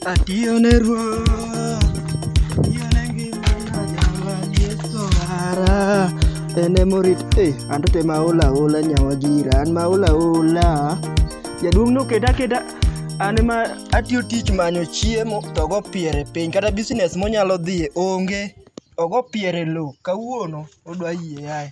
Atiyo ne Ruoth, atiyo ne ngimana, Jawar Yesu mara. En ema orit eh, an to te maol aola nyawa gira, an maol aola. Jaduong' noketa aketa, an ema atiyo tich manyo chiemo to ogo piere piny, kata business monyalo dhiye onge. Ogo piere e lowo, kawuono odwa yie ae.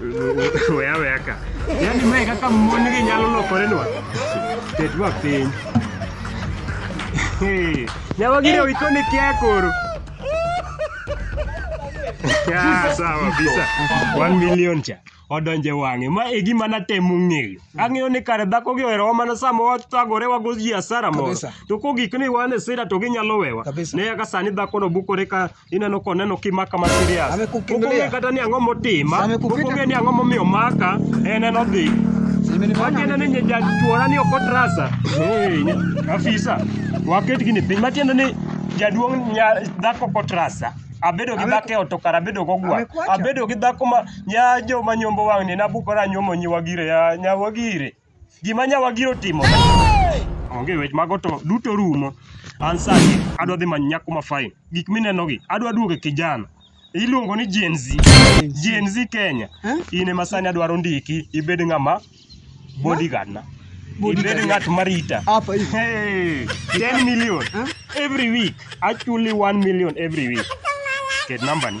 Weya weya ka. Yaani mae kaka mon gi nyalo lokore nwa. Ketwa piny. Hey, Nyawa gire witoni kia koro. Ah, sawa bisa. 1 million cha. Odonje wang'e. Ma e gima natemo ng'eyo. Ang'eyo ni kare dhako gi oherowa mana sama watagore wago ji asara moro. Kabisa. To kogik ni wan e sira to ginyalo wewa. Kabisa. Ne kaka sani dhakono bukore ka Ineno koneno kimaka ma serious. Amekukimbilia. Pok ong'e kata ni ang'o motima. Pok Amekupita. ong'e ni ang'o momiyo maka. En en odhi. Matiende ni nyija chuora ni ok otrasa. Hey, afisa. Waket gini piny. Matiende ni jaduong' nya dhako ok otrasa. Abedo gi Ame- dhako e ot to kara abedo go gwar. Amekwacha. Abedo gi dhako ma nya jo ma nyombo wang'ni nabuko ra nyuomo nyi wagire ya nya wagire. gima nyawa giro timo onge wech mago to duto rumo an sani adwa dhi manyo nyako ma fine gik minenogi adwa duogo e kijana iluongo ni Gen Z Gen Z Kenya in ema sani adwaro ndiki ibed ng'ama bodyguard na ibed ng'at marita Hapa hivi. Hey, 10 million every week actually 1 million every week ket nambani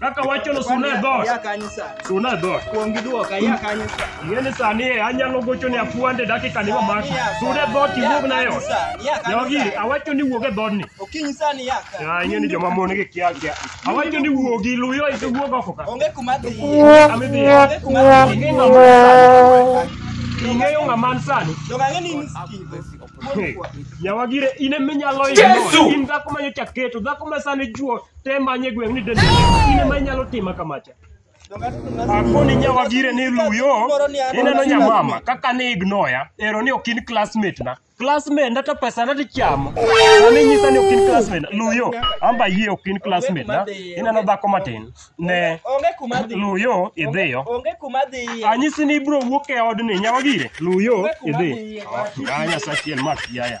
Kaka wachono suna e dhot. Ya kanyo sa. Suna e dhot. Kuom gi duoka ya kanyo sa. Ng'eni sani e anyalo gocho ne afuande dakika ni mamaki. Suna e dhot iwuog na e ot. Jogi awacho ni wuog e dhodni. Okinyi sani ya ka. Ya ing'eni joma mon gi kia kia. Awacho ni wuogi luyo ise wuog oko ka. Onge kuma dhi. Ami dhi. Onge kuma dhi. Ing'e ng'ama sani. Ing'eyo ng'ama an sani. Joga ng'eni ni sikigo. Hey, Nyawagire in eminyalo imo. In dhako ma nyocha keto, dhako ma sani juo, te manye gweng' ni dende in ema inyalo tima kamacha akoni nyawagire ni luyo ineno nyamama kaka ni ignoya ero ni ok in classmate na classmate na to pesa na tichamo sani nyisa ni ok in classmate na luyo amba yie ok in classmate na ineno dhako matin ne Onge kuma dhi. luyo idhiyo Onge kuma dhi. anyisi ni ibro wuok e odni nyawagire luyo idhi Ah, nyasa chiel mak yaya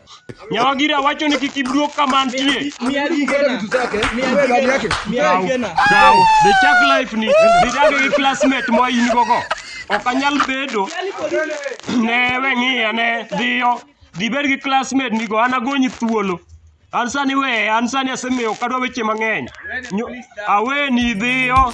Nyawagira wacho ni kik iduog kama antie. Mia gi gena. Mia gi gena. Mia gi gena. Kaw, the chak life ni didage gi classmate ma in gogo. Ok anyal bedo. Ne we ng'iya ne dhiyo. Dhi bed gi classmate ni go an agonyi thuolo. An sani we, an sani asemiyo kadwa weche mang'eny. Nyo- Aweni dhiyo.